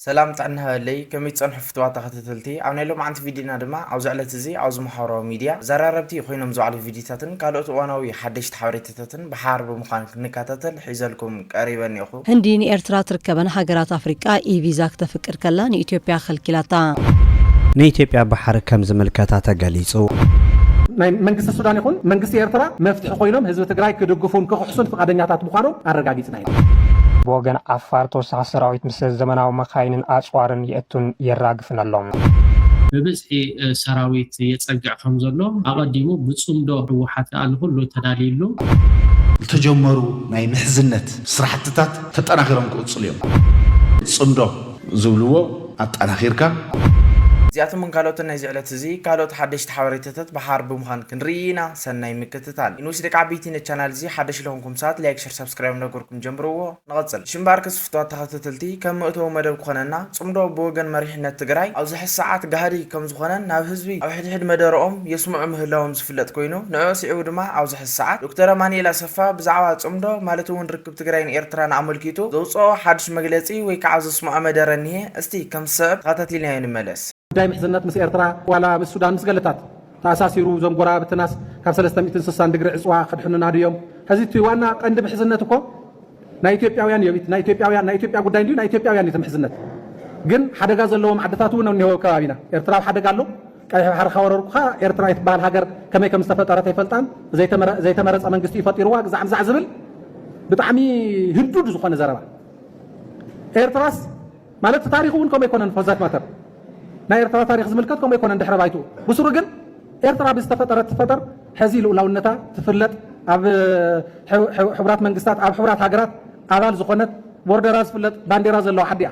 ሰላም ጥዕና ሃበለይ ከመይ ትጸንሑ ፍትዋት ተኸታተልቲ ኣብ ናይ ሎምዓንቲ ቪድዮና ድማ ኣብዚ ዕለት እዚ ኣብዚ ማሕበራዊ ሚድያ ዘራረብቲ ኮይኖም ዝውዕሉ ቪድዮታትን ካልኦት እዋናዊ ሓደሽቲ ሓበሬታታትን ብሓባር ብምዃን ክንከታተል ሒዘልኩም ቀሪበ እኔኹ። ህንዲ ንኤርትራ ትርከበን ሃገራት ኣፍሪቃ ኢ-ቪዛ ክተፍቅድ ከላ ንኢትዮጵያ ከልኪላታ። ንኢትዮጵያ ባሕሪ ከም ዝምልከታ ተገሊጹ። ናይ መንግስቲ ሱዳን ይኹን መንግስቲ ኤርትራ መፍትሒ ኮይኖም ህዝቢ ትግራይ ክድግፉን ክኽሕሱን ፍቓደኛታት ምዃኖም ኣረጋጊጽና። ብወገን ዓፋር ተወሳኺ ሰራዊት ምስ ዘመናዊ መካይንን ኣፅዋርን የእቱን የራግፍን ኣሎ። ብብዝሒ ሰራዊት የፀግዕ ከምዘሎ ኣቐዲሙ ብፅምዶ ህወሓት ከኣ ንኹሉ ተዳልዩሉ። ዝተጀመሩ ናይ ምሕዝነት ስራሕትታት ተጠናኺሮም ክቕፅሉ እዮም። ፅምዶ ዝብልዎ ኣጠናኺርካ። እዚኣቶምን ካልኦትን ናይዚ ዕለት እዚ ካልኦት ሓደሽቲ ሓበሬታታት ብሓባር ብምዃን ክንርኢ ኢና ሰናይ ምክትታል። ይንውስ ደቂ ዓበይቲ ነቲ ቻናል እዚ ሓደሽ ለኹንኩም። ሳት ላይክ ሸር ሳብስክራይብ እንዳገበርኩም ጀምርዎ ንቐጽል። እሺ እምበኣርከስ ፍቱዋት ተኸታተልቲ ከም መእተዊ መደብ ክኾነና ጽምዶ ብወገን መሪሕነት ትግራይ ኣብዚ ሕዚ ሰዓት ጋህዲ ከምዝኾነን ናብ ህዝቢ ኣብ ሕድሕድ መደረኦም የስምዑ ምህላዎም ዝፍለጥ ኮይኑ ንዕዑ ስዒቡ ድማ ኣብዚ ሕዚ ሰዓት ዶክተር ኣማኒኤል ኣሰፋ ብዛዕባ ጽምዶ ማለት እውን ርክብ ትግራይን ኤርትራን ኣመልኪቱ ዘውጸኦ ሓዱሽ መግለጺ ወይ ከዓ ዘስምዖ መደረ እኒሀ እስቲ ከም ዝስዕብ ተኸታቲልናዮ ንመለስ። ጉዳይ ምሕዝነት ምስ ኤርትራ ዋላ ምስ ሱዳን ምስ ገለታት ተኣሳሲሩ እዞም ጎረባብትናስ ካብ ሰለስተ ሚእትን ስሳን ድግሪ ዕጽዋ ከድሕኑና ድዮም ሐዚ እቲ ዋና ቀንዲ ምሕዝነት እኮ ናይ ኢትዮጵያውያን እዮ ናይ ኢትዮጵያውያን ናይ ኢትዮጵያ ጉዳይ እንድዩ ናይ ኢትዮጵያውያን እዩ እቲ ምሕዝነት ግን ሓደጋ ዘለዎም ዓድታት እውን እኒሀው ከባቢና ኤርትራ ኣብ ሓደጋ ኣሎ ቀይሕ ባሕሪ ካወረርኩኻ ኤርትራ እትበሃል ሃገር ከመይ ከም ዝተፈጠረት ኣይፈልጣን ዘይተመረፀ መንግስቲ እዩ ፈጢርዋ ግዛዕ ምዛዕ ዝብል ብጣዕሚ ህዱድ ዝኾነ ዘረባ ኤርትራስ ማለት እቲ ታሪኹ እውን ከምኡ ኣይኮነን for that matter ናይ ኤርትራ ታሪኽ ዝምልከት ከምኡ ኣይኮነን ድሕረ ባይትኡ ብስሩ ግን ኤርትራ ብዝተፈጠረት ትፈጠር ሕዚ ልኡላውነታ ትፍለጥ ኣብ ሕቡራት መንግስታት ኣብ ሕቡራት ሃገራት ኣባል ዝኾነት ቦርደራ ዝፍለጥ ባንዴራ ዘለዋ ዓዲ እያ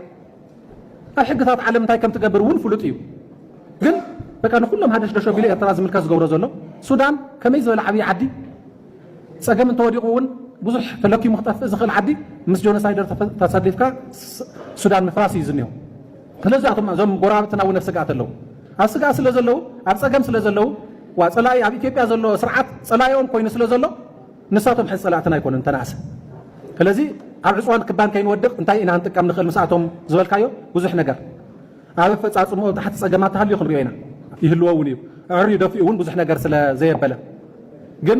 ኣብ ሕግታት ዓለም እንታይ ከም ትገብር እውን ፍሉጥ እዩ ግን በቃ ንኩሎም ሃደሽደሽ ኣቢሉ ኤርትራ ዝምልከት ዝገብሮ ዘሎ ሱዳን ከመይ ዝበለ ዓብዪ ዓዲ ጸገም እንተወዲቑ እውን ብዙሕ ተለኪሙ ክጠፍእ ዝኽእል ዓዲ ምስ ጆኖሳይደር ተሰሊፍካ ሱዳን ምፍራስ እዩ ዝኒሆ። ስለዚ ኣቶም እዞም ጎረባብትና እውን ኣብ ስግኣት ኣለዉ። ኣብ ስግኣት ስለ ዘለዉ ኣብ ጸገም ስለ ዘለዉ ዋ ጸላኢ ኣብ ኢትዮጵያ ዘሎ ስርዓት ጸላኢኦም ኮይኑ ስለ ዘሎ ንሳቶም ሕዚ ጸላእትና ኣይኮኑን ተናእሰ ስለዚ ኣብ ዕፅዋን ክባን ከይንወድቕ እንታይ ኢና ክንጥቀም ንኽእል ምስኣቶም ዝበልካዮ ብዙሕ ነገር ኣብ ኣፈፃፅምኡ ኣብ ታሕቲ ፀገማት ተሃልዩ ክንሪኦ ኢና ይህልዎ እውን እዩ ኣዕርዩ ደፊኡ እውን ብዙሕ ነገር ስለ ዘየበለ ግን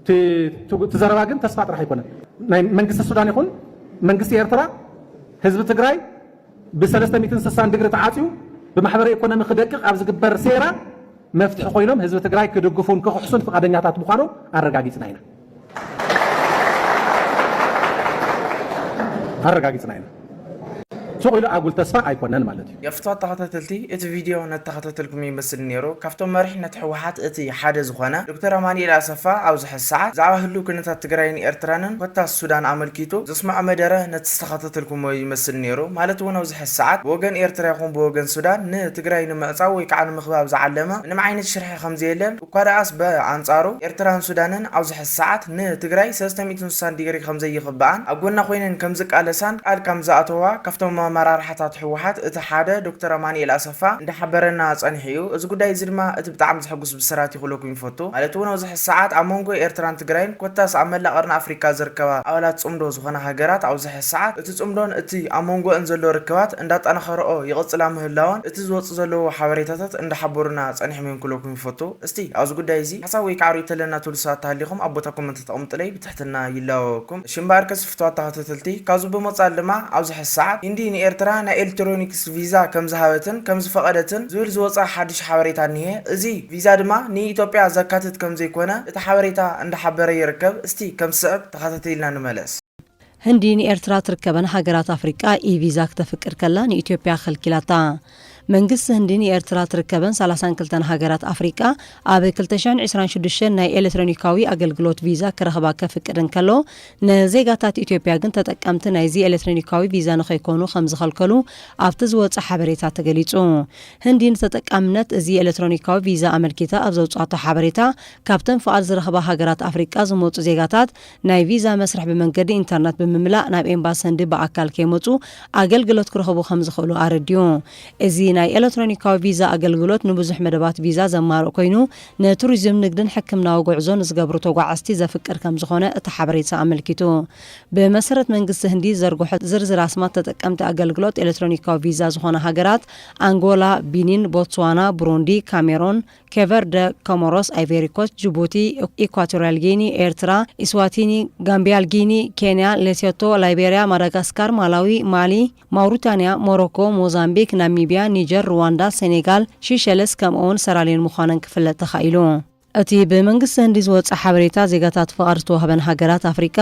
እቲ ዘረባ ግን ተስፋ ጥራሕ ኣይኮነን ናይ መንግስቲ ሱዳን ይኹን መንግስቲ ኤርትራ ህዝቢ ትግራይ ብሰለስተ ሚትን ስሳን ድግሪ ተዓፅዩ ብማሕበረ ኢኮኖሚ ክደቅቕ ኣብ ዝግበር ሴራ መፍትሒ ኮይኖም ህዝቢ ትግራይ ክድግፉን ክኽሕሱን ፍቓደኛታት ምዃኖም ኣረጋጊፅና ኢና ኣረጋጊጽና ኢና። ሱቕ ኢሉ ኣጉል ተስፋ ኣይኮነን ማለት እዩ። ገፍቱ ኣተኻታተልቲ እቲ ቪድዮ ነተኻታተልኩም ይመስል ኔሩ ካብቶም መሪሕነት ህወሓት እቲ ሓደ ዝኾነ ዶክተር ኣማኒኤል ኣሰፋ ኣብዚ ሕዚ ሰዓት ብዛዕባ ህሉው ኩነታት ትግራይን ኤርትራንን ኮታስ ሱዳን ኣመልኪቱ ዘስመዖ መደረ ነተስተኻታተልኩሞ ይመስል ኔሩ ማለት እውን ኣብዚ ሕዚ ሰዓት ብወገን ኤርትራ ይኹን ብወገን ሱዳን ንትግራይ ንምዕፃው ወይ ከዓ ንምኽባብ ዝዓለመ ምንም ዓይነት ሽርሒ ከምዘየለ እኳ ደኣስ ብኣንጻሩ ኤርትራን ሱዳንን ኣብዚ ሕዚ ሰዓት ንትግራይ ሰለስተ ሚእትን ስሳን ዲግሪ ከምዘይኽበኣን ኣብ ጎና ኮይነን ከምዝቃለሳን ቃል ከምዝኣተዋ ካብቶም ኣመራርሓታት ህወሓት እቲ ሓደ ዶክተር ኣማኒኤል ኣሰፋ እንዳሓበረና ጸኒሑ እዩ። እዚ ጉዳይ እዚ ድማ እቲ ብጣዕሚ ዘሕጉስ ብስራት'ዩ ክብለኩም ይፈቱ። ማለት እውን ኣብዚ ሕዚ ሰዓት ኣብ መንጎ ኤርትራን ትግራይን ኮታስ ኣብ መላእ ቀርኒ ኣፍሪካ ዝርከባ ኣባላት ጽምዶ ዝኾና ሃገራት ኣብዚ ሕዚ ሰዓት እቲ ጽምዶን እቲ ኣብ መንጎእን ዘሎ ርክባት እንዳጠናኸረኦ ይቕጽላ ምህላወን እቲ ዝወጽእ ዘለዎ ሓበሬታታት እንዳሓበሩና ጸኒሖም እዮም ክብለኩም ንፈቱ እስቲ ኣብዚ ጉዳይ እዚ ሓሳብ ወይ ከዓ ሪኢቶ ኣለና ትብሉ ሰባት ተሃሊኹም ኣብ ቦታ ኮመንት ተቀምጡለይ ብትሕትና ይላበበኩም እሺ እምበኣርከስ ፍትዋት ተኸተተልቲ ካብዚ ብምቅፃል ድማ ኣብዚ ሐዚ ሰዓት ሂንዲ ንኤርትራ ናይ ኤልትሮኒክስ ቪዛ ከምዝሃበትን ከምዝፈቀደትን ዝብል ዝወፅኣ ሓዱሽ ሓበሬታ እኒሀ እዚ ቪዛ ድማ ንኢትዮጵያ ዘካትት ከምዘይኮነ እቲ ሓበሬታ እንዳሓበረ ይርከብ እስቲ ከምዝስዕብ ተኸታቲልና ንመለስ። ህንዲ ንኤርትራ ትርከበን ሃገራት ኣፍሪቃ ኢ-ቪዛ ክተፍቅድ ከላ ንኢትዮጵያ ከልኪላታ። መንግስቲ ህንዲ ንኤርትራ ትርከበን ሳላሳን ክልተን ሃገራት ኣፍሪቃ ኣብ ክልተ ሽሕን ዕስራን ሽዱሽተን ናይ ኤለትረኒካዊ ኣገልግሎት ቪዛ ክረኽባ ከፍቅድ እንከሎ፣ ንዜጋታት ኢትዮጵያ ግን ተጠቀምቲ ናይዚ ኤለትረኒካዊ ቪዛ ንኸይኮኑ ከምዝኸልከሉ ኣብቲ ዝወጸ ሓበሬታ ተገሊጹ። ህንዲ ንተጠቃምነት እዚ ኤለትሮኒካዊ ቪዛ ኣመልኪታ ኣብ ዘውጽኣቶ ሓበሬታ፣ ካብተን ፍቓድ ዝረኽባ ሃገራት ኣፍሪቃ ዝመጹ ዜጋታት ናይ ቪዛ መስርሕ ብመንገዲ ኢንተርነት ብምምላእ ናብ ኤምባሲ ህንዲ ብኣካል ከይመጹ ኣገልግሎት ክረኽቡ ከምዝኽእሉ ኣረዲኡ። እዚ ናይ ኤለትሮኒካዊ ቪዛ ኣገልግሎት ንብዙሕ መደባት ቪዛ ዘማልእ ኮይኑ፣ ንቱሪዝም፣ ንግድን ሕክምናዊ ጉዕዞ ንዝገብሩ ተጓዓዝቲ ዘፍቅድ ከምዝኾነ እቲ ሓበሬታ ኣመልኪቱ። ብመሰረት መንግስቲ ህንዲ ዝዘርግሖ ዝርዝር ኣስማት ተጠቀምቲ ኣገልግሎት ኤለትሮኒካዊ ቪዛ ዝኾና ሃገራት፣ ኣንጎላ፣ ቢኒን፣ ቦትስዋና፣ ብሩንዲ፣ ካሜሮን፣ ኬቨርደ፣ ኮሞሮስ፣ ኣይቬሪኮስት፣ ጁቡቲ፣ ኢኳቶሪያል ጊኒ፣ ኤርትራ፣ ኢስዋቲኒ፣ ጋምቢያል ጊኒ፣ ኬንያ፣ ሌሴቶ፣ ላይቤሪያ፣ ማዳጋስካር፣ ማላዊ፣ ማሊ፣ ማውሪታንያ፣ ሞሮኮ፣ ሞዛምቢክ፣ ናሚቢያ፣ ኒጀር፣ ርዋንዳ፣ ሴኔጋል፣ ሺሸልስ ከምኡ'ውን ሰራልዮን ምዃነን ክፍለጥ ተኻኢሉ። እቲ ብመንግስቲ ህንዲ ዝወጸ ሓበሬታ፣ ዜጋታት ፍቓድ ዝተዋህበን ሃገራት ኣፍሪቃ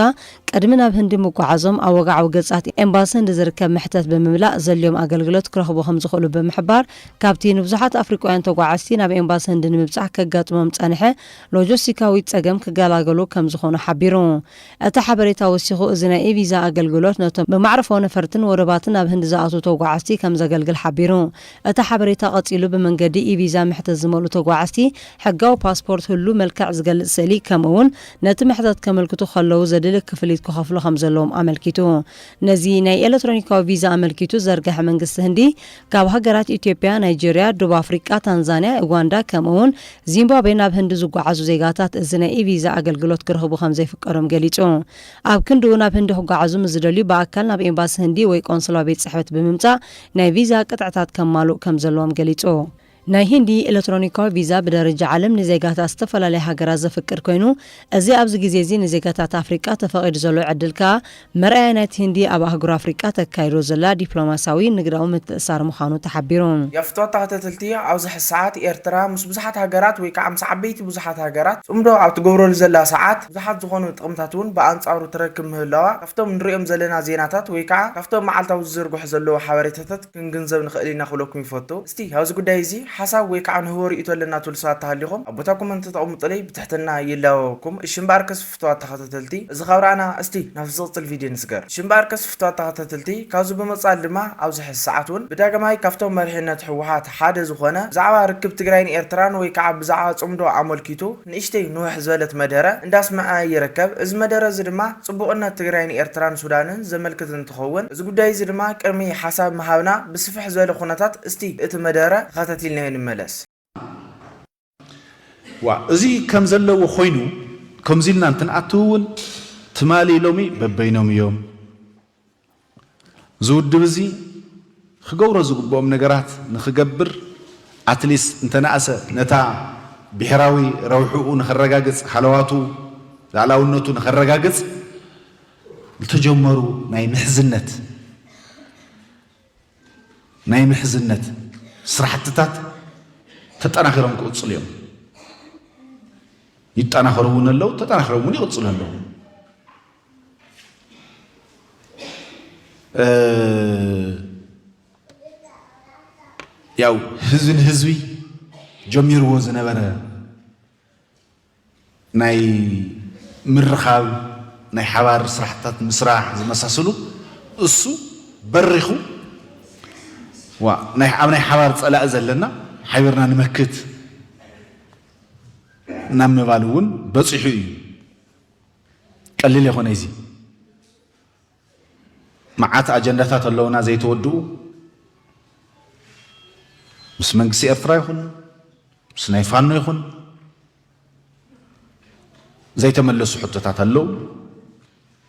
ቅድሚ ናብ ህንዲ ምጉዓዞም ኣብ ወግዓዊ ገጻት ኤምባሲ ህንዲ ዝርከብ መሕተት ብምምላእ ዘድልዮም ኣገልግሎት ክረኽቡ ከምዝኽእሉ ብምሕባር፣ ካብቲ ንብዙሓት ኣፍሪቃውያን ተጓዓዝቲ ናብ ኤምባሲ ህንዲ ንምብጻሕ ከጋጥሞም ዝጸንሐ ሎጀስቲካዊት ጸገም ክገላገሉ ከም ዝኾኑ ሓቢሩ። እቲ ሓበሬታ ወሲኹ እዚ ናይ ኢ-ቪዛ ኣገልግሎት ነቶም ብማዕርፎ ነፈርትን ወደባትን ናብ ህንዲ ዝኣትዉ ተጓዓዝቲ ከም ዘገልግል ሓቢሩ። እቲ ሓበሬታ ቀጺሉ ብመንገዲ ኢ-ቪዛ መሕተት ዝመልኡ ተጓዓዝቲ ሕጋዊ ፓስፖርት ህሉው መልክዕ ዝገልጽ ስእሊ ከምኡ'ውን ነቲ መሕተት ከመልክቱ ከለዉ ዘድሊ ክፍሊት ክኸፍሉ ከም ዘለዎም ኣመልኪቱ። ነዚ ናይ ኤለትሮኒካዊ ቪዛ ኣመልኪቱ ዘርገሐ መንግስቲ ህንዲ፣ ካብ ሃገራት ኢትዮጵያ፣ ናይጀርያ፣ ዶብ ኣፍሪቃ፣ ታንዛንያ፣ ኡጋንዳ ከምኡ'ውን ዚምባብዌ ናብ ህንዲ ዝጓዓዙ ዜጋታት እዚ ናይ ኢ-ቪዛ ኣገልግሎት ክረኽቡ ከምዘይፍቀዶም ገሊጹ። ኣብ ክንድኡ ናብ ህንዲ ክጓዓዙ ምስ ዝደልዩ ብኣካል ናብ ኤምባሲ ህንዲ ወይ ቆንስላዊ ቤት ጽሕፈት ብምምጻእ ናይ ቪዛ ቅጥዕታት ከማልኡ ከምዘለዎም ገሊጹ። ናይ ሂንዲ ኤለትሮኒካዊ ቪዛ ብደረጃ ዓለም ንዜጋታት ዝተፈላለያ ሃገራት ዘፍቅድ ኮይኑ፣ እዚ ኣብዚ ግዜ'ዚ ንዜጋታት ኣፍሪቃ ተፈቒዱ ዘሎ ዕድል ከኣ መርኣያ ናይቲ ሂንዲ ኣብ ኣህጉር ኣፍሪቃ ተካይዶ ዘላ ዲፕሎማስያዊ ንግዳዊ ምትእስሳር ምዃኑ ተሓቢሩ። የፍቶ ተኸተትልቲ ኣብዚ ሕዚ ሰዓት ኤርትራ ምስ ብዙሓት ሃገራት ወይ ከኣ ምስ ዓበይቲ ብዙሓት ሃገራት ጽምዶ ኣብ ትገብረሉ ዘላ ሰዓት ብዙሓት ዝኾኑ ጥቕምታት ውን ብኣንጻሩ ትረክብ ምህላዋ ካብቶም ንርእዮም ዘለና ዜናታት ወይ ከኣ ካብቶም መዓልታዊ ዝዝርግሑ ዘለዉ ሓበሬታታት ክንግንዘብ ንኸእል ኢና ክብለኩም ይፈቱ። እስቲ ኣብዚ ጉዳይ እዚ ሓሳብ ወይ ካዓ ንህቦ ሪኢቶ ኣለና ትብሉ ሰባት ተሃሊኹም ኣብ ቦታ ኮመንት ተተቐምጡለይ ብትሕትና ይላበበኩም። እሺ እምበኣርከስ ፍቱዋት ተኸታተልቲ እዚ ካብ ረኣና እስቲ ናብቲ ዝቕፅል ቪድዮ ንስገር። እሺ እምበኣርከስ ፍቱዋት ተኸታተልቲ ካብዚ ብምቕፃል ድማ ኣብዚ ሕዚ ሰዓት እውን ብዳግማይ ካብቶም መሪሕነት ህወሓት ሓደ ዝኾነ ብዛዕባ ርክብ ትግራይን ኤርትራን ወይ ካዓ ብዛዕባ ፅምዶ ኣመልኪቱ ንእሽተይ ንውሕ ዝበለት መደረ እንዳስመዐ ይርከብ። እዚ መደረ እዚ ድማ ፅቡቕነት ትግራይ ንኤርትራን ሱዳንን ዘመልክት እንትኸውን እዚ ጉዳይ እዚ ድማ ቅድሚ ሓሳብ ምሃብና ብስፍሕ ዝበለ ኩነታት እስቲ እቲ መደረ ተኸታቲልናዮ ንመለስ። ዋእ እዚ ከም ዘለዎ ኮይኑ ከምዚ ኢልና እንትንኣትው እውን ትማሊ ሎሚ በበይኖም እዮም። እዚ ውድብ እዚ ክገብሮ ዝግብኦም ነገራት ንክገብር ኣትሊስ እንተነኣሰ ነታ ብሔራዊ ረብሕኡ ንከረጋግፅ ሃለዋቱ ላእላውነቱ ንከረጋግፅ ዝተጀመሩ ናይ ምሕዝነት ናይ ምሕዝነት ስራሕትታት ተጠናኺሮም ክቕፅሉ እዮም። ይጠናኸሩ እውን ኣለዉ፣ ተጠናኺሮም እውን ይቕፅሉ ኣለዉ። ያው ህዝቢ ንህዝቢ ጀሚርዎ ዝነበረ ናይ ምርኻብ ናይ ሓባር ስራሕትታት ምስራሕ ዝመሳሰሉ እሱ በሪኹ ኣብ ናይ ሓባር ፀላኢ ዘለና ሓቢርና ንመክት ናብ ምባል እውን በፂሑ እዩ። ቀሊል የኮነይ እዚ መዓት ኣጀንዳታት ኣለውና ዘይተወድኡ ምስ መንግስቲ ኤርትራ ይኹን ምስ ናይ ፋኖ ይኹን ዘይተመለሱ ሕቶታት ኣለው።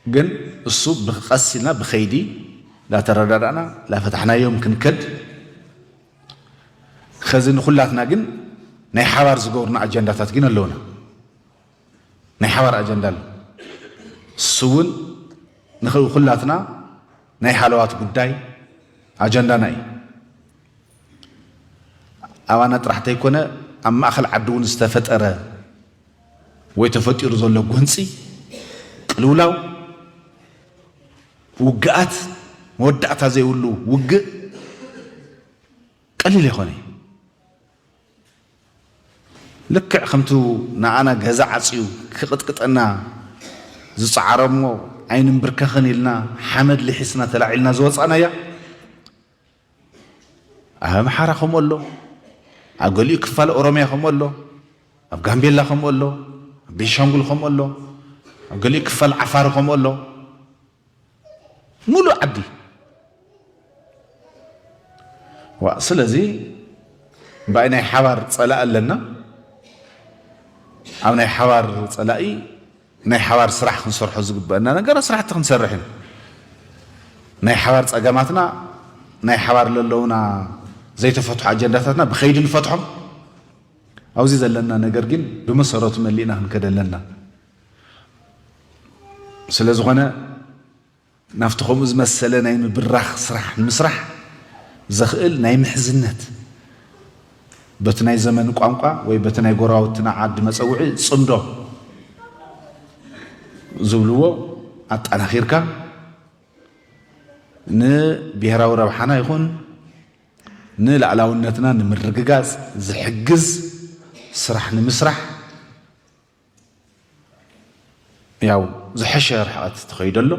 ግን እሱ ብቀስ ኢልና ብከይዲ ላተረዳዳእና ላፈታሕናዮም ክንከድ ከዚ ንኩላትና ግን ናይ ሓባር ዝገብሩና ኣጀንዳታት ግን ኣለውና። ናይ ሓባር ኣጀንዳ ኣሎ። ንሱ እውን ንክብ ኩላትና ናይ ሃለዋት ጉዳይ ኣጀንዳና እዩ። ኣባና ጥራሕ ተይኮነ ኣብ ማእኸል ዓዲ እውን ዝተፈጠረ ወይ ተፈጢሩ ዘሎ ጎንፂ፣ ቅልውላው፣ ውግኣት፣ መወዳእታ ዘይብሉ ውግእ ቀሊል ኣይኮነይ። ልክዕ ከምቲ ንኣና ገዛ ዓጽዩ ክቕጥቅጠና ዝጸዓረ'ሞ ኣይንምብርከኽን ኢልና ሓመድ ልሒስና ተላዒልና ዝወጻእናያ፣ ኣብ ኣምሓራ ከምኡ ኣሎ፣ ኣብ ገሊኡ ክፋል ኦሮምያ ከምኡ ኣሎ፣ ኣብ ጋምቤላ ከምኡ ኣሎ፣ ኣብ ቤንሻንጉል ከምኡ ኣሎ፣ ኣብ ገሊኡ ክፋል ዓፋር ከምኡ ኣሎ። ሙሉእ ዓዲ ዋእ ስለዚ ባይ ናይ ሓባር ጸላኢ ኣለና ኣብ ናይ ሓባር ጸላኢ ናይ ሓባር ስራሕ ክንሰርሖ ዝግበአና ነገር ስራሕቲ ክንሰርሕ እዩ ናይ ሓባር ጸገማትና ናይ ሓባር ዘለውና ዘይተፈትሑ ኣጀንዳታትና ብኸይዲ ንፈትሖም ኣብዚ ዘለና ነገር ግን ብመሰረቱ መሊእና ክንከደ ኣለና ስለዝኾነ ናብቲ ከምኡ ዝመሰለ ናይ ምብራኽ ስራሕ ንምስራሕ ዘኽእል ናይ ምሕዝነት በቲ ናይ ዘመን ቋንቋ ወይ በቲ ናይ ጎረባብትና ዓዲ መፀውዒ ፅምዶ ዝብልዎ ኣጠናኺርካ ንብሔራዊ ረብሓና ይኹን ንላዕላውነትና ንምርግጋፅ ዝሕግዝ ስራሕ ንምስራሕ ያው ዝሐሸ ርሕቐት ዝተኸይደሉ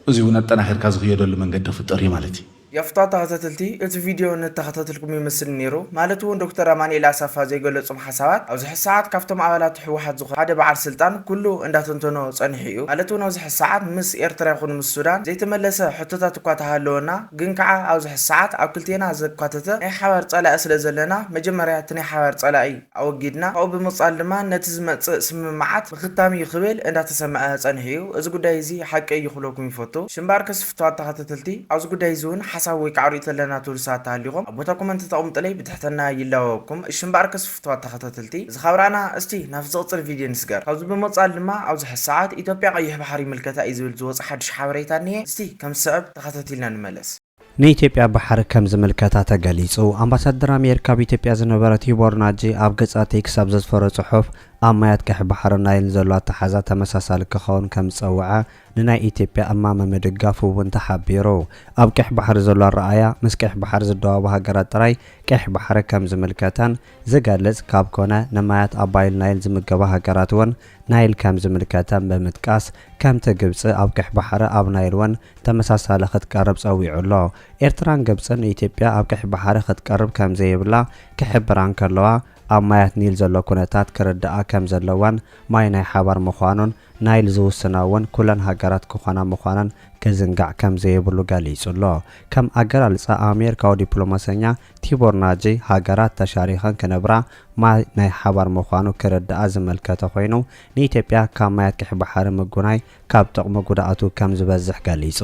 እዚ እውን ኣጠናኺርካ ዝኽየደሉ መንገዲ ክፍጠር እዩ ማለት እዩ። ያፍታ ተኸታተልቲ እቲ ቪድዮ እነተኸታተልኩም ይመስል ነይሩ ማለት እውን ዶክተር ኣማኒኤል ኣሰፋ ዘይገለፆም ሓሳባት ኣብዚ ሕዚ ሰዓት ካብቶም ኣባላት ህወሓት ዝኾነ ሓደ በዓል ስልጣን ኩሉ እንዳተንተኖ ፀኒሑ እዩ ማለት እውን ኣብዚ ሕዚ ሰዓት ምስ ኤርትራ ይኹን ምስ ሱዳን ዘይተመለሰ ሕቶታት እኳ ተሃለወና ግን ከኣ ኣብዚ ሕዚ ሰዓት ኣብ ክልቴና ዘካተተ ናይ ሓባር ጸላኢ ስለ ዘለና መጀመርያ እቲ ናይ ሓባር ጸላኢ ኣወጊድና ካብኡ ብምቅጻል ድማ ነቲ ዝመጽእ ስምምዓት ምኽታም እዩ ክብል እንዳ ተሰመዐ ጸኒሑ እዩ እዚ ጉዳይ እዚ ሓቂ እዩ ክብለኩም ይፈቱ ሽምባር ከስፍቷት ተኸተተልቲ ኣብዚ ጉዳይ እዚ ውን ሓሳብ ወይ ከኣ ርእይቶ ኣለና ትብሉ ሰባት ተሃሊኹም ኣብ ቦታ ኮመንቲ ተቅምጡለይ ብትሕትና ይላወኩም ሽምባር ከስፍቷት ተኸታተልቲ እዚ ካብ ራእና እስቲ ናብቲ ዝቅጽል ቪድዮ ንስገር ካብዚ ብምቅጻል ድማ ኣብዚ ሕዚ ሰዓት ኢትዮጵያ ቀይሕ ባሕሪ ይምልከታ እዩ ዝብል ዝወጸ ሓዱሽ ሓበሬታ እኒሀ እስቲ ከም ዝስዕብ ተኸታቲልና ንመለስ። ንኢትዮጵያ ባሕሪ ከም ዝምልከታ ተገሊጹ። ኣምባሳደር ኣሜሪካ ኣብ ኢትዮጵያ ዝነበረ ቲቦር ናጂ ኣብ ገጻ ቴክስ ኣብ ዘስፈሮ ጽሑፍ፣ ኣብ ማያት ቀይሕ ባሕርን ናይልን ዘሎ ኣተሓሕዛ ተመሳሳሊ ክኸውን ከም ዝጸውዐ ንናይ ኢትዮጵያ እማመ ምድጋፉ እውን ተሓቢሩ። ኣብ ቀይሕ ባሕሪ ዘሎ ኣረኣእያ ምስ ቀይሕ ባሕሪ ዝደዋወባ ሃገራት ጥራይ ቀይሕ ባሕሪ ከም ዝምልከተን ዝገልጽ ካብ ኮነ ንማያት ኣባይል ናይል ዝምገባ ሃገራት እውን ናይል ከም ዝምልከተም ብምጥቃስ፣ ከምቲ ግብጺ ኣብ ቀይሕ ባሕሪ ኣብ ናይል ውን ተመሳሳሊ ክትቀርብ ጸዊዑ ኣሎ። ኤርትራን ግብጽን ኢትዮጵያ ኣብ ቀይሕ ባሕሪ ክትቀርብ ከም ዘይብላ ክሕብራ እንከለዋ፣ ኣብ ማያት ኒል ዘሎ ኩነታት ክርድኣ ከም ዘለወን ማይ ናይ ሓባር ምዃኑን ናይል ዝውስና ውን ኩለን ሃገራት ክኾና ምዃነን ክዝንጋዕ ከም ዘይብሉ ገሊጹ ኣሎ። ከም ኣገላልጻ ኣሜርካዊ ዲፕሎማሰኛ ቲቦር ናጅይ ሃገራት ተሻሪኸን ክነብራ ማይ ናይ ሓባር ምዃኑ ክርድኣ ዝመልከተ ኮይኑ፣ ንኢትዮጵያ ካብ ማያት ቀይሕ ባሕሪ ምጉናይ ካብ ጥቕሙ ጉድኣቱ ከም ዝበዝሕ ገሊጹ።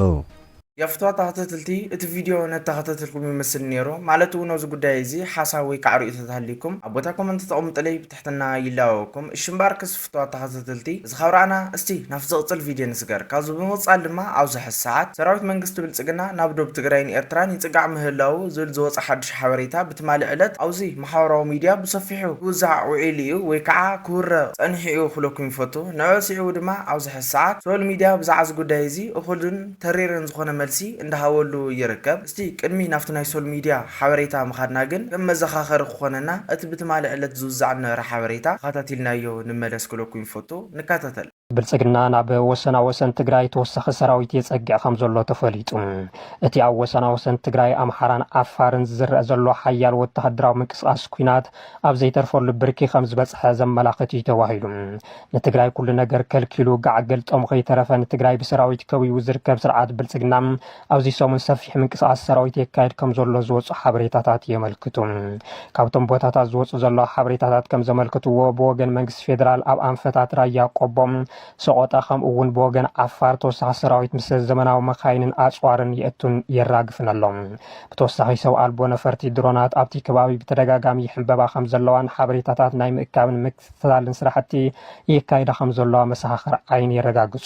ያፍትዋ ተኸታተልቲ እቲ ቪድዮ ነተኸታተልኩም ይመስል ኔሩ ማለት እውን ኣብዚ ጉዳይ እዚ ሓሳብ ወይ ካዓ ርእቶታት ሃልዩኩም ኣብ ቦታ ኮመንት ተቐሙጥለይ ብትሕትና ትሕትና ይላበወኩም እሺ እምባር ክስፍቷት ተኻታተልቲ እዚ ካብ ራኣና እስቲ ናብቲ ዝቕጽል ቪድዮ ንስገር ካብዚ ብምቕጻል ድማ ኣብዚ ሐዚ ሰዓት ሰራዊት መንግስቲ ብልጽግና ናብ ዶብ ትግራይን ኤርትራን ይጽጋዕ ምህላዉ ዝብል ዝወጸ ሓዱሽ ሓበሬታ ብትማሊ ዕለት ኣብዚ ማሕበራዊ ሚድያ ብሰፊሑ ክውዛዕ ውዒሉ እዩ ወይ ካዓ ክውረ ጸኒሑ እዩ ክብለኩም ይፈቱ ንዕዑ ሲዒቡ ድማ ኣብዚ ሐዚ ሰዓት ሶል ሚድያ ብዛዕዚ ጉዳይ እዚ እኹልን ተሪርን ዝኾነ መልሲ እንዳሃበሉ ይርከብ እስቲ ቅድሚ ናብቲ ናይ ሶል ሚድያ ሓበሬታ ምኻድና ግን ከም መዘኻኸሪ ክኾነና እቲ ብትማሊ ዕለት ዝውዛዕ ዝነበረ ሓበሬታ ተኸታቲልናዮ ንመለስ ክብለኩም ይፈቱ። ንከታተል። ብልፅግና ናብ ወሰና ወሰን ትግራይ ተወሳኺ ሰራዊት የፀግዕ ከምዘሎ ተፈሊጡ። እቲ ኣብ ወሰና ወሰን ትግራይ፣ ኣምሓራን ዓፋርን ዝረእ ዘሎ ሓያል ወተሃደራዊ ምንቅስቓስ ኲናት ኣብ ዘይተርፈሉ ብርኪ ከምዝበፅሐ ዘመላኽት እዩ ተባሂሉ። ንትግራይ ኩሉ ነገር ከልኪሉ ጋዕ ገልጠሙ ከይተረፈ ንትግራይ ብሰራዊት ከቢቡ ዝርከብ ስርዓት ብልፅግና ኣብዚ ሰሙን ሰፊሕ ምንቅስቓስ ሰራዊት የካየድ ከም ዘሎ ዝወፁ ሓበሬታታት የመልክቱ። ካብቶም ቦታታት ዝወፁ ዘለዉ ሓበሬታታት ከም ዘመልክትዎ ብወገን መንግስቲ ፌዴራል ኣብ ኣንፈታት ራያ ቆቦ፣ ሰቖጣ ከምኡ እውን ብወገን ዓፋር ተወሳኺ ሰራዊት ምስ ዘመናዊ መካይንን ኣፅዋርን የእቱን የራግፍን ኣሎ። ብተወሳኺ ሰብ ኣልቦ ነፈርቲ፣ ድሮናት፣ ኣብቲ ከባቢ ብተደጋጋሚ ይሕንበባ ከም ዘለዋን ሓበሬታታት ናይ ምእካብን ፈላልን ስራሕቲ የካይዳ ከም ዘለዋ መሰኻኽር ዓይኒ የረጋግፁ።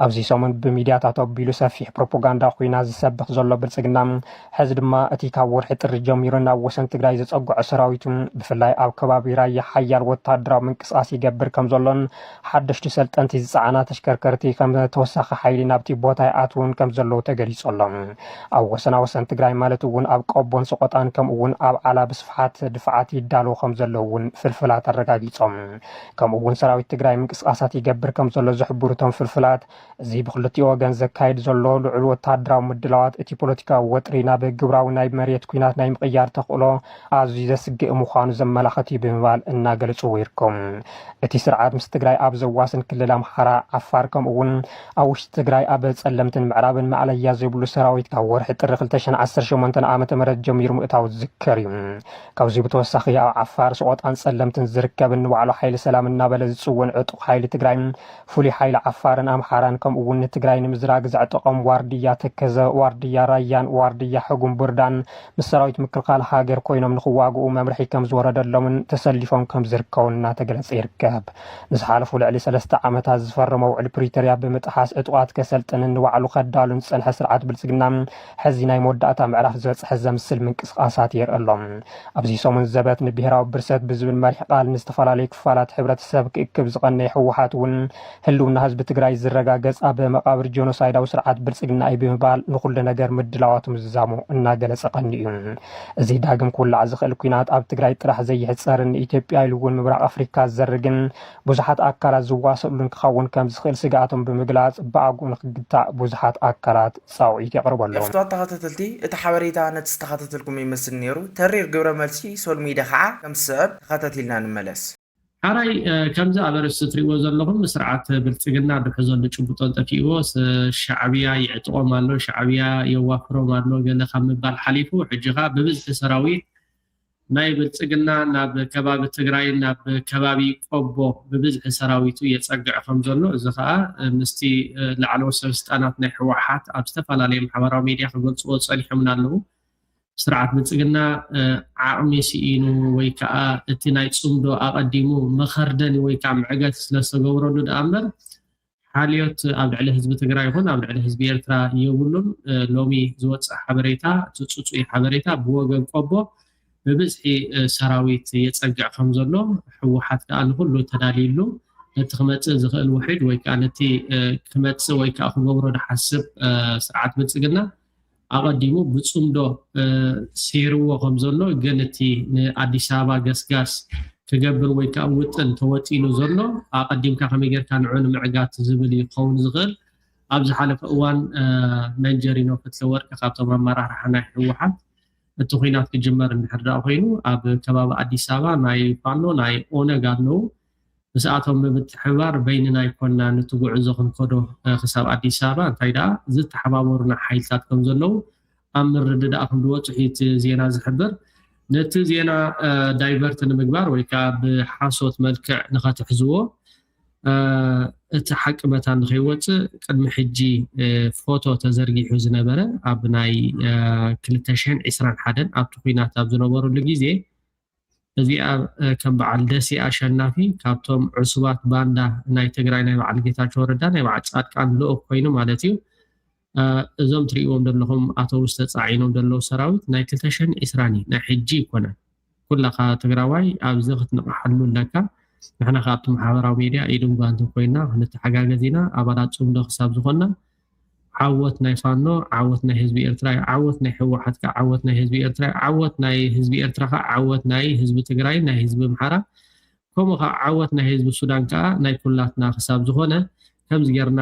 ኣብዚ ሰሙን ብሚድያታት ኣቢሉ ሰፊሕ ፕሮፖጋንዳ ኩናት ዝሰብኽ ዘሎ ብልፅግና ሕዚ ድማ እቲ ካብ ወርሒ ጥሪ ጀሚሩ ናብ ወሰን ትግራይ ዘፀግዖ ሰራዊቱ ብፍላይ ኣብ ከባቢ ራያ ሓያል ወታደራዊ ምንቅስቓስ ይገብር ከም ዘሎን ሓደሽቲ ሰልጠንቲ ዝፀዓና ተሽከርከርቲ ከም ተወሳኺ ሓይሊ ናብቲ ቦታ ይኣትውን ከም ዘለዉ ተገሊፁ ኣሎ። ኣብ ወሰና ወሰን ትግራይ ማለት እውን ኣብ ቆቦን ሰቖጣን ከምኡ እውን ኣብ ዓላ ብስፍሓት ድፋዓት ይዳለዉ ከም ዘለዉ እውን ፍልፍላት ኣረጋጊፆም። ከምኡ እውን ሰራዊት ትግራይ ምንቅስቓሳት ይገብር ከም ዘሎ ዝሕብሩ እቶም ፍልፍላት እዚ ብክልቲኡ ወገን ዘካይድ ዘሎ ልዑል ወተሃደራዊ ምድላዋት እቲ ፖለቲካዊ ወጥሪ ናብ ግብራዊ ናይ መሬት ኩናት ናይ ምቕያር ተኽእሎ ኣዝዩ ዘስግእ ምዃኑ ዘመላኸት እዩ ብምባል እናገለፅዎ ይርከቡ። እቲ ስርዓት ምስ ትግራይ ኣብ ዘዋስን ክልል ኣምሓራ፣ ዓፋር ከምኡ እውን ኣብ ውሽጢ ትግራይ ኣብ ፀለምትን ምዕራብን ማእለያ ዘይብሉ ሰራዊት ካብ ወርሒ ጥሪ ክልተ ሽሕን ዓሰርተ ሸሞንተን ዓመተ ምህረት ጀሚሩ ምእታዉ ዝዝከር እዩ። ካብዚ ብተወሳኺ ኣብ ዓፋር፣ ስቖጣን ፀለምትን ዝርከብ ንባዕሉ ሓይሊ ሰላም እናበለ ዝፅውን ዕጡቕ ሓይሊ ትግራይ፣ ፍሉይ ሓይሊ ዓፋርን ኣምሓራን ከምኡ እውን ንትግራይ ንምዝራግ ዘዕጠቖም ዋርድያ ተከዘ፣ ዋርድያ ራያን ዋርድያ ሕጉምቡርዳን ምስ ሰራዊት ምክልኻል ሃገር ኮይኖም ንኽዋግኡ መምርሒ ከምዝወረደሎምን ተሰሊፎም ከምዝርከቡን እናተገለፀ ይርከብ። ምስ ሓለፉ ልዕሊ ሰለስተ ዓመታት ዝፈረሞ ውዕል ፕሪቶርያ ብምጥሓስ ዕጡቓት ከሰልጥንን ንባዕሉ ከዳሉን ዝፀንሐ ስርዓት ብልፅግና ሕዚ ናይ መወዳእታ ምዕራፍ ዝበፅሐ ዘምስል ምንቅስቓሳት የርኢ ኣሎ። ኣብዚ ሰሙን ዘበት ንብሄራዊ ብርሰት ብዝብል መሪሕ ቃል ንዝተፈላለዩ ክፋላት ሕብረተሰብ ክእክብ ዝቐነየ ህወሓት እውን ህልውና ህዝቢ ትግራይ ዝረጋገፅ ኣብ መቓብር ጆኖሳይዳዊ ስርዓት ብልፅግና እዩ ብምባል ንኹሉ ነገር ምድላዋቱ ምዝዛሙ እናገለፀ ቀኒኡ እዩ። እዚ ዳግም ክውላዕ ዝኽእል ኲናት ኣብ ትግራይ ጥራሕ ዘይሕጸርን ንኢትዮጵያ ኢሉ እውን ምብራቕ ኣፍሪካ ዝዘርግን ብዙሓት ኣካላት ዝዋሰእሉን ክኸውን ከምዝኽእል ስግኣቶም ብምግላጽ ብኣግኡ ንክግታእ ብዙሓት ኣካላት ጻውዒት የቕርቡ ኣለዉ። ፍትዋት ተኸታተልቲ እቲ ሓበሬታ ነቲ ዝተኸታተልኩሞ ይመስል ነይሩ ተሪር ግብረ መልሲ ሶል ሚድያ ካዓ ከም ዝስዕብ ተኸታቲልና ንመለስ። ሐራይ ከምዚ ኣብ ኣርእስቲ ትሪእዎ ዘለኹም ስርዓት ብልጽግና ድሕዞሉ ጭቡጦን ጠፊእዎ ሻዕብያ ይዕጥቖም ኣሎ ሻዕብያ የዋፍሮም ኣሎ ገለ ካብ ምባል ሓሊፉ ሕጂ ከኣ ብብዝሒ ሰራዊት ናይ ብልጽግና ናብ ከባቢ ትግራይ ናብ ከባቢ ቆቦ ብብዝሒ ሰራዊቱ የጸግዕ ከም ዘሎ እዚ ከኣ ምስቲ ላዕለዎት ሰበስልጣናት ናይ ሕወሓት ኣብ ዝተፈላለየ ማሕበራዊ ሚድያ ክገልጽዎ ጸኒሖምና ኣለዉ ስርዓት ብልፅግና ዓቕሚ ስኢኑ ወይ ከዓ እቲ ናይ ፅምዶ ኣቐዲሙ መኸርደኒ ወይ ከዓ ምዕገቲ ስለዝተገብረሉ ድኣ እምበር ሓልዮት ኣብ ልዕሊ ህዝቢ ትግራይ ይኹን ኣብ ልዕሊ ህዝቢ ኤርትራ የብሉን። ሎሚ ዝወፅእ ሓበሬታ እቲ ፅፁይ ሓበሬታ ብወገን ቆቦ ብብዝሒ ሰራዊት የፀግዕ ከም ዘሎ ህወሓት ከዓ ንኹሉ ተዳልዩሉ ነቲ ክመፅእ ዝኽእል ውሕጅ ወይ ከዓ ነቲ ክመፅእ ወይ ከዓ ክገብሮ ዝሓስብ ስርዓት ብልፅግና ኣቐዲሙ ብጽምዶ ሴርዎ ከምዘሎ ግን እቲ ንኣዲስ ኣበባ ገስጋስ ክገብር ወይ ከኣ ውጥን ተወጢኑ ዘሎ ኣቐዲምካ ከመይ ጌርካ ንዑ ንምዕጋት ዝብል እዩ ክኸውን ዝኽእል። ኣብ ዝሓለፈ እዋን መንጀሪኖ ክፍለወርቅ ካብቶም ኣመራርሓ ናይ ህወሓት እቲ ኹናት ክጅመር እንድሕር ደኣ ኮይኑ ኣብ ከባቢ ኣዲስ ኣበባ ናይ ፋኖ ናይ ኦነግ ኣለዉ ምስኣቶም ብምትሕብባር በይንና ኣይኮናን እቲ ጉዕዞ ክንከዶ ክሳብ ኣዲስ ኣበባ እንታይ ደኣ ዝተሓባበሩና ሓይልታት ከም ዘለዉ ኣብ ምርድዳእ ከም ዝወፅሑ እዩ እቲ ዜና ዝሕብር ነቲ ዜና ዳይቨርት ንምግባር ወይ ከዓ ብሓሶት መልክዕ ንኸትሕዝዎ እቲ ሓቂ መታን ንኸይወፅእ ቅድሚ ሕጂ ፎቶ ተዘርጊሑ ዝነበረ ኣብ ናይ 221 ኣብቲ ኩናት ኣብ ዝነበረሉ ግዜ እዚኣ ከም በዓል ደሴ ኣሸናፊ ካብቶም ዕሱባት ባንዳ ናይ ትግራይ ናይ በዓል ጌታቸው ረዳ ናይ በዓል ፃድቃን ልኡኽ ኮይኑ ማለት እዩ እዞም ትሪእዎም ዘለኹም ኣተውስ ተፃዒኖም ዘለዉ ሰራዊት ናይ ክልተ ሽሕን ዒስራን እዩ ናይ ሕጂ ይኮነን ኩላኻ ትግራዋይ ኣብዚ ክትንቕሓሉ ኣለካ ንሕና ካብቲ ማሕበራዊ ሚድያ ኢድን ጓንትን ኮይና ክንተሓጋገዝ ኢና ኣባላት ፅምዶ ክሳብ ዝኾንና ዓወት ናይ ፋኖ ዓወት ናይ ህዝቢ ኤርትራ እዩ ዓወት ናይ ህወሓት ከ ዓወት ናይ ህዝቢ ኤርትራ እዩ ዓወት ናይ ህዝቢ ኤርትራ ከ ዓወት ናይ ህዝቢ ትግራይ ናይ ህዝቢ ኣምሓራ ከምኡ ከዓ ዓወት ናይ ህዝቢ ሱዳን ከዓ ናይ ኩላትና ክሳብ ዝኾነ ከምዚ ጌርና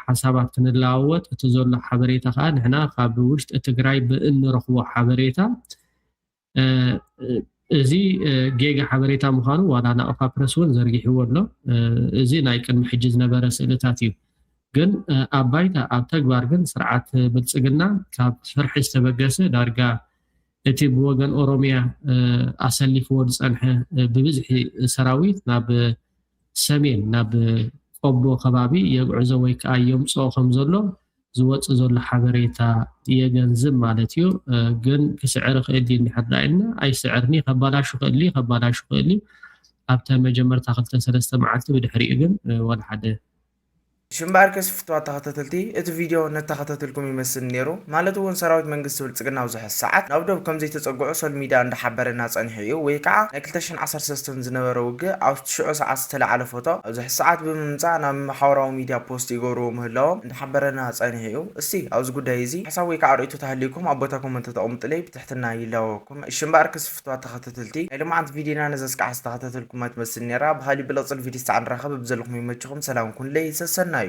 ሓሳባት ክንለዋወጥ እቲ ዘሎ ሓበሬታ ከዓ ንሕና ካብ ውሽጢ ትግራይ ብእንረኽቦ ሓበሬታ እዚ ጌጋ ሓበሬታ ምዃኑ ዋላ ናቕፋ ፕረስ እውን ዘርጊሕዎ ኣሎ። እዚ ናይ ቅድሚ ሕጂ ዝነበረ ስእልታት እዩ። ግን ኣብ ባይታ ኣብ ተግባር ግን ስርዓት ብልፅግና ካብ ፍርሒ ዝተበገሰ ዳርጋ እቲ ብወገን ኦሮሚያ ኣሰሊፍዎ ዝፀንሐ ብብዝሒ ሰራዊት ናብ ሰሜን ናብ ቆቦ ከባቢ የግዕዞ ወይ ከዓ የምፅኦ ከም ዘሎ ዝወፅእ ዘሎ ሓበሬታ የገንዝብ ማለት እዩ። ግን ክስዕር ይኽእል ድዩ እንድሕር ዳኣ ኢልና ኣይስዕርን እዩ ከባላሹ ይኽእል እዩ ከባላሹ ይኽእል እዩ ኣብተን መጀመርታ ክልተ ሰለስተ መዓልቲ ብድሕሪኡ ግን ዋላ ሓደ እሺ እምበኣርከስ ፍቱዋት ተኸታተልቲ እቲ ቪድዮ ነተኸታተልኩም ይመስል ኔሩ ማለት ውን ሰራዊት መንግስቲ ብልጽግና ኣብዙሐ ሰዓት ናብ ዶብ ከምዘይተጸግዑ ሶል ሚድያ እንዳሓበረና ጸኒሑ እዩ ወይ ካዓ ናይ ክልተ ሽሕን ዓሰርተ ሰለስተን ዝነበረ ውግእ ኣብ ትሽዑ ሰዓት ዝተላዓለ ፎቶ ኣብዙሐ ሰዓት ብምምጻእ ናብ ማሓበራዊ ሚድያ ፖስት ይገብርዎ ምህላዎም እንዳሓበረና ጸኒሑ እዩ እስቲ ኣብዚ ጉዳይ እዚ ሓሳብ ወይ ካዓ ርእይቶት ሃልይኩም ኣብ ቦታ ኮመንት ተተቅምጡለይ ብትሕትና ይላበወኩም እሺ እምበኣርከስ ክብርትዋ ተከተተልቲ ናይ ሎማዓንቲ ቪድዮና ነዛ እስካዕ ዝተከታተልኩማ ትመስል ነራ ብካሊእ ብልቅፅል ቪድዮ እስታዕ ንራከብ ብዘለኩሞ ይመችኩም ሰላም ኩኑለይ ሰሰናዩ።